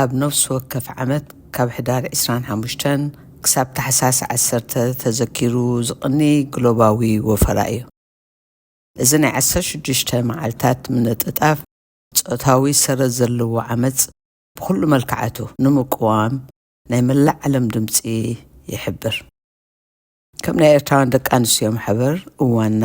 ኣብ ነፍሲ ወከፍ ዓመት ካብ ሕዳር ዕስራን ሓሙሽተን ክሳብ ታሕሳስ ዓሰርተ ተዘኪሩ ዝቕኒ ግሎባዊ ወፈራ እዩ። እዚ ናይ ዓሰርተ ሽዱሽተ መዓልታት ምንጥጣፍ ጾታዊ ሰረት ዘለዎ ዓመጽ ብኹሉ መልክዓቱ ንምቅዋም ናይ መላእ ዓለም ድምጺ ይሕብር። ከም ናይ ኤርትራውያን ደቂ ኣንስትዮ ማሕበር እዋንና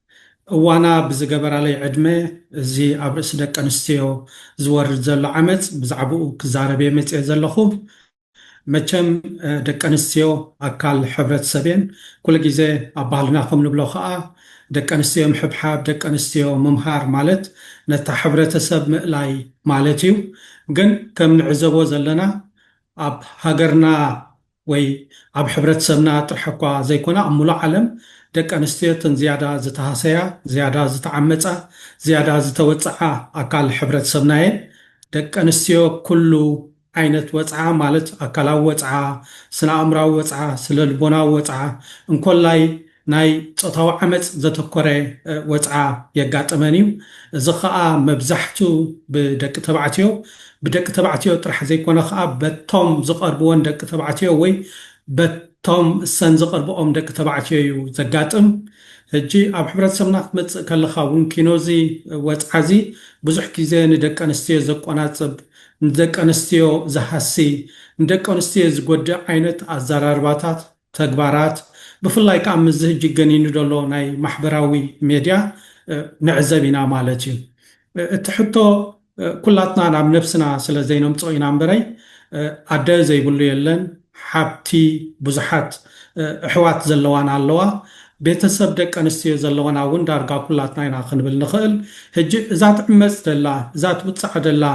እዋና ብዝገበራለይ ዕድመ እዚ ኣብ ርእሲ ደቂ ኣንስትዮ ዝወርድ ዘሎ ዓመጽ ብዛዕብኡ ክዛረብ እየ መጺኤ ዘለኹ። መቸም ደቂ ኣንስትዮ ኣካል ሕብረተሰብ እየን። ኩሉ ግዜ ኣብ ባህልና ከም ንብሎ ከኣ ደቂ ኣንስትዮ ምሕብሓብ፣ ደቂ ኣንስትዮ ምምሃር ማለት ነታ ሕብረተሰብ ምእላይ ማለት እዩ። ግን ከም ንዕዘቦ ዘለና ኣብ ሃገርና ወይ ኣብ ሕብረተሰብና ጥራሕ'ኳ ዘይኮነ ኣብ ምሉእ ዓለም ደቂ ኣንስትዮ እተን ዝያዳ ዝተሃሰያ፣ ዝያዳ ዝተዓመጻ፣ ዝያዳ ዝተወጽዓ ኣካል ሕብረተሰብና'የን። ደቂ ኣንስትዮ ኩሉ ዓይነት ወጽዓ ማለት ኣካላዊ ወጽዓ፣ ስነ-ኣእምሮኣዊ ወጽዓ፣ ስነልቦናዊ ወጽዓ፣ እንኮላይ ናይ ጾታዊ ዓመጽ ዘተኮረ ወጽዓ የጋጥመን እዩ። እዚ ከኣ መብዛሕቱ ብደቂ ተባዕትዮ፣ ብደቂ ተባዕትዮ ጥራሕ ዘይኮነ ከኣ በቶም ዝቐርብወን ደቂ ተባዕትዮ ወይ በቶም እሰን ዝቕርብኦም ደቂ ተባዕትዮ እዩ ዘጋጥም። ሕጂ ኣብ ሕብረተሰብና ክትመጽእ ከለኻ እውን ኪኖ እዚ ወጽዓ እዚ ብዙሕ ግዜ ንደቂ ኣንስትዮ ዘቆናጽብ፣ ንደቂ ኣንስትዮ ዝሃሲ፣ ንደቂ ኣንስትዮ ዝጎድእ ዓይነት ኣዘራርባታት፣ ተግባራት ብፍላይ ከኣ ምስዚ ህጂ ገኒኑ ዘሎ ናይ ማሕበራዊ ሜድያ ንዕዘብ ኢና ማለት እዩ። እቲ ሕቶ ኩላትና ናብ ነብስና ስለ ዘይነምጽኦ ኢና እምበረይ ኣደ ዘይብሉ የለን፣ ሓብቲ ብዙሓት እሕዋት ዘለዋና ኣለዋ፣ ቤተሰብ ደቂ ኣንስትዮ ዘለዋና እውን ዳርጋ ኩላትና ኢና ክንብል ንኽእል። ህጂ እዛ ትዕመጽ ደላ እዛ ትውጽዓ ደላ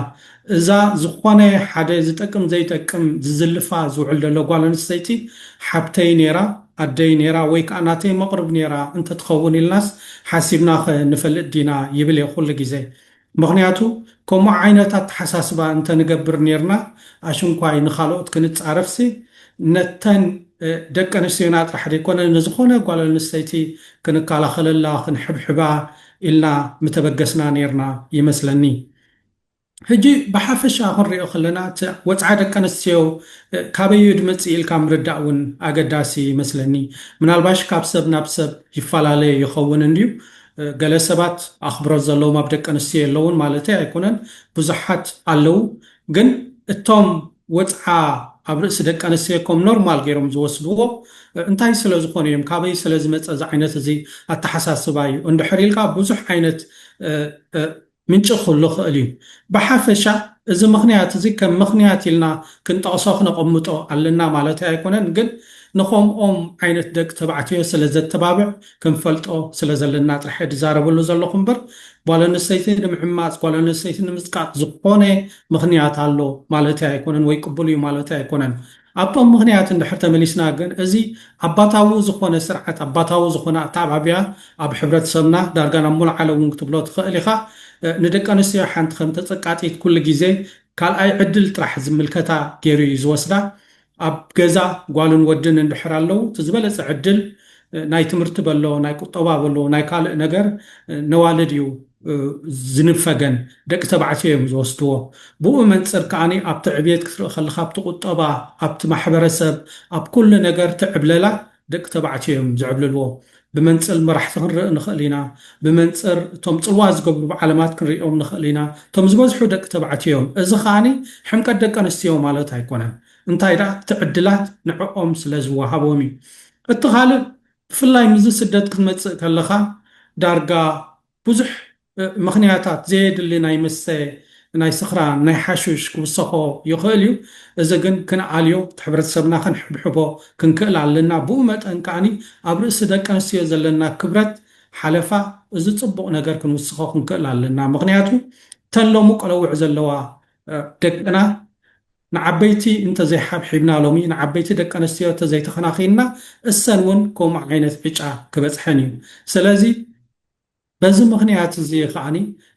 እዛ ዝኾነ ሓደ ዝጠቅም ዘይጠቅም ዝዝልፋ ዝውዕል ዘሎ ጓል ኣንስተይቲ ሓብተይ ኔራ፣ ኣደይ ኔራ ወይ ከኣ ናተይ መቕርብ ኔራ እንተትኸውን ኢልናስ ሓሲብናኸ ንፈልጥ ዲና ይብል እየ ኩሉ ግዜ። ምኽንያቱ ከምኡ ዓይነት ኣተሓሳስባ እንተንገብር ኔርና ኣሽንኳይ ንኻልኦት ክንጻረፍሲ ነተን ደቂ ኣንስትዮና ጥራሕ ዘይኮነ ንዝኾነ ጓል ኣንስተይቲ ክንከላኸለላ ክንሕብሕባ ኢልና ምተበገስና ኔርና ይመስለኒ። ሕጂ ብሓፈሻ ክንሪኦ ከለና እቲ ወጽዓ ደቂ ኣንስትዮ ካበይ እዩ ድመጽእ ኢልካ ምርዳእ እውን ኣገዳሲ ይመስለኒ። ምናልባሽ ካብ ሰብ ናብ ሰብ ይፈላለ ይኸውን እንድዩ። ገለ ሰባት ኣኽብሮት ዘለዎም ኣብ ደቂ ኣንስትዮ የለዉን ማለተይ ኣይኮነን፣ ብዙሓት ኣለዉ። ግን እቶም ወጽዓ ኣብ ርእሲ ደቂ ኣንስትዮ ከም ኖርማል ገይሮም ዝወስድዎ እንታይ ስለ ዝኾኑ እዮም? ካበይ ስለ ዝመጸ እዚ ዓይነት እዚ ኣተሓሳስባ እዩ? እንድሕር ኢልካ ብዙሕ ዓይነት ምንጪ ክህሉ ይኽእል እዩ። ብሓፈሻ እዚ ምኽንያት እዚ ከም ምኽንያት ኢልና ክንጠቕሶ ክነቐምጦ ኣለና ማለተይ ኣይኮነን ግን ንኸምኦም ዓይነት ደቂ ተባዕትዮ ስለ ዘተባብዕ ክንፈልጦ ስለ ዘለና ጥራሕ እየ ዝዛረበሉ ዘለኹ እምበር ጓል ኣንስተይቲ ንምዕማጽ ጓል ኣንስተይቲ ንምጽቃጥ ዝኾነ ምኽንያት ኣሎ ማለተይ ኣይኮነን ወይ ቅቡል እዩ ማለተይ ኣይኮነን ኣብቶም ምኽንያት እንድሕር ተመሊስና ግን እዚ ኣባታዊ ዝኾነ ስርዓት ኣባታዊ ዝኾነ ኣተዓባብያ ኣብ ሕብረተሰብና ዳርጋ ናብ ሙሉእ ዓለም እውን ክትብሎ ትኽእል ኢኻ ንደቂ ኣንስትዮ ሓንቲ ከም ተጸቃጢት ኩሉ ግዜ ካልኣይ ዕድል ጥራሕ ዝምልከታ ጌሩ እዩ ዝወስዳ ኣብ ገዛ ጓልን ወድን እንድሕር ኣለው እቲ ዝበለጸ ዕድል ናይ ትምህርቲ በሎ ናይ ቁጠባ በሎ ናይ ካልእ ነገር ነዋልድ እዩ ዝንፈገን ደቂ ተባዕትዮ እዮም ዝወስድዎ። ብኡ መንጽር ከኣ ኣብቲ ዕብየት ክትርኢ ከለኻ ኣብቲ ቁጠባ፣ ኣብቲ ማሕበረሰብ፣ ኣብ ኩሉ ነገር እቲ ዕብለላ ደቂ ተባዕትዮ እዮም ዝዕብልልዎ። ብመንጽል መራሕቲ ክንርኢ ንኽእል ኢና፣ ብመንጽር እቶም ጽልዋ ዝገብሩ ብዓለማት ክንርእዮም ንኽእል ኢና። እቶም ዝበዝሑ ደቂ ተባዕትዮ እዮም። እዚ ከኣ ሕምቀት ደቂ ኣንስትዮ ማለት ኣይኮነን። እንታይ ደኣ እቲ ዕድላት ንዕኦም ስለ ዝወሃቦም እዩ። እቲ ካልእ ብፍላይ ምስዚ ስደት ክትመጽእ ከለኻ ዳርጋ ብዙሕ ምኽንያታት ዘየድሊ ናይ መስተ ናይ ስኽራን ናይ ሓሹሽ ክውሰኾ ይኽእል እዩ እዚ ግን ክንኣልዮ እቲ ሕብረተሰብና ክንሕብሕቦ ክንክእል ኣለና ብኡ መጠን ከኣ ኣብ ርእሲ ደቀንስትዮ ዘለና ክብረት ሓለፋ እዚ ጽቡቕ ነገር ክንውስኾ ክንክእል ኣለና ምኽንያቱ እተን ሎሚ ቆለውዕ ዘለዋ ደቅና ንዓበይቲ እንተ ዘይሓብሒብና ሎሚ ንዓበይቲ ደቂ ኣንስትዮ እተ ዘይተኸናኺንና እሰን እውን ከምኡ ዓይነት ዕጫ ክበፅሐን እዩ ሰለዚ በዚ ምኽንያት እዚ ኸኣኒ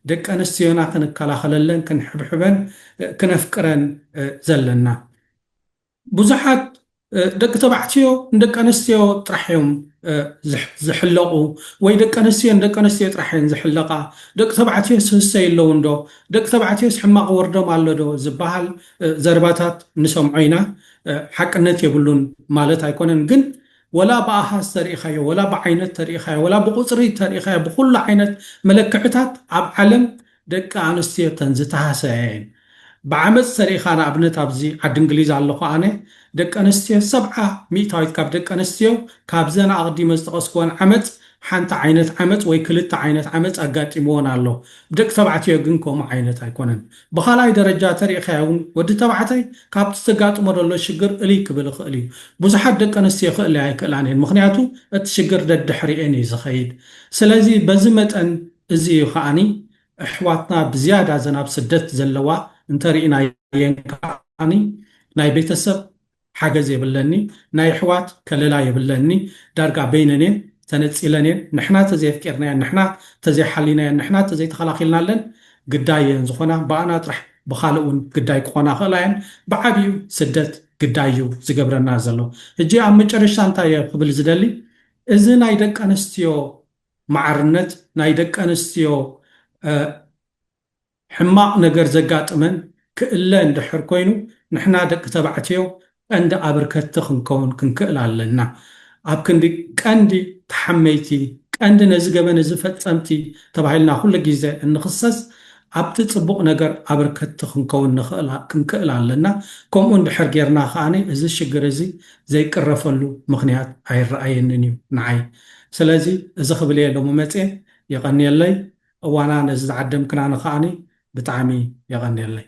ደቂ ኣንስትዮና ክንከላኸለለን ክንሕብሕበን ክነፍቅረን ዘለና ብዙሓት ደቂ ተባዕትዮ ንደቂ ኣንስትዮ ጥራሕ እዮም ዝሕለቑ ወይ ደቂ ኣንስትዮ ንደቂ ኣንስትዮ ጥራሕ እየን ዝሕለቓ፣ ደቂ ተባዕትዮ ስህሰ የለውንዶ፣ ደቂ ተባዕትዮስ ሕማቕ ወርዶም ኣሎዶ ዝበሃል ዘረባታት ንሰምዖ ኢና። ሓቅነት የብሉን ማለት ኣይኮነን ግን ወላ ብኣሃዝ ተሪኢኻዮ ወላ ብዓይነት ተሪኢኻዮ ወላ ብቑፅሪ ተሪኢኻዮ ብኹሉ ዓይነት መለክዕታት ኣብ ዓለም ደቂ ኣንስትዮ እተን ዝተሃሰያ እየን ብዓመጽ ተሪኢኻ ንኣብነት ኣብዚ ዓዲ እንግሊዝ ኣለኹ ኣነ ደቂ ኣንስትዮ ሰብዓ ሚእታዊት ካብ ደቂ ኣንስትዮ ካብዘን ኣቕዲመ ዝጠቐስክወን ዓመጽ ሓንቲ ዓይነት ዓመጽ ወይ ክልተ ዓይነት ዓመጽ ኣጋጢምወን ኣሎ ብደቂ ተባዕትዮ ግን ከምኡ ዓይነት ኣይኮነን ብኻልኣይ ደረጃ ተሪኢኻዮ ውን ወዲ ተባዕታይ ካብቲ ዘጋጥሞ ዘሎ ሽግር እልይ ክብል ይኽእል እዩ ብዙሓት ደቂ ኣንስትዮ ክእለያ ኣይክእላን እየን ምኽንያቱ እቲ ሽግር ደድሕሪኤን እዩ ዝኸይድ ስለዚ በዚ መጠን እዚ እዩ ከኣ ኣሕዋትና ብዝያዳ እዘን ኣብ ስደት ዘለዋ እንተ ሪኢናየን ከኣ ናይ ቤተሰብ ሓገዝ የብለኒ ናይ ኣሕዋት ከለላ የብለኒ ዳርጋ በይነን እየን ተነጺለን እየን ንሕና ተዘየፍቂርናየን ንሕና ተዘይሓሊናየን ንሕና ተዘይተኸላኺልናለን ግዳይ እየን ዝኾና ብኣና ጥራሕ ብኻልእ ውን ግዳይ ክኾና ይኽእላ እየን ብዓቢኡ ስደት ግዳይ እዩ ዝገብረና ዘሎ ህጂ ኣብ መጨረሽታ እንታይ እየ ክብል ዝደሊ እዚ ናይ ደቀንስትዮ ማዕርነት ናይ ደቂ ኣንስትዮ ሕማቕ ነገር ዘጋጥመን ክእለ እንድሕር ኮይኑ ንሕና ደቂ ተባዕትዮ ቀንዲ ኣብርከቲ ክንከውን ክንክእል ኣለና ኣብ ክንዲ ቀንዲ ተሓመይቲ ቀንዲ ነዚ ገበን እዚ ፈጸምቲ ተባሂልና ኩሉ ግዜ እንኽሰስ ኣብቲ ጽቡቕ ነገር ኣብርከቲ ክንከውን ንኽእል ክንክእል ኣለና ከምኡ እንድሕር ጌርና ከኣ እዚ ሽግር እዚ ዘይቅረፈሉ ምኽንያት ኣይረኣየንን እዩ ንዓይ ስለዚ እዚ ክብል እየ ሎሚ መጽየ የቀንየለይ እዋና ነዚ ዝዓደምክናኒ ከኣ ብጣዕሚ የቀንየለይ።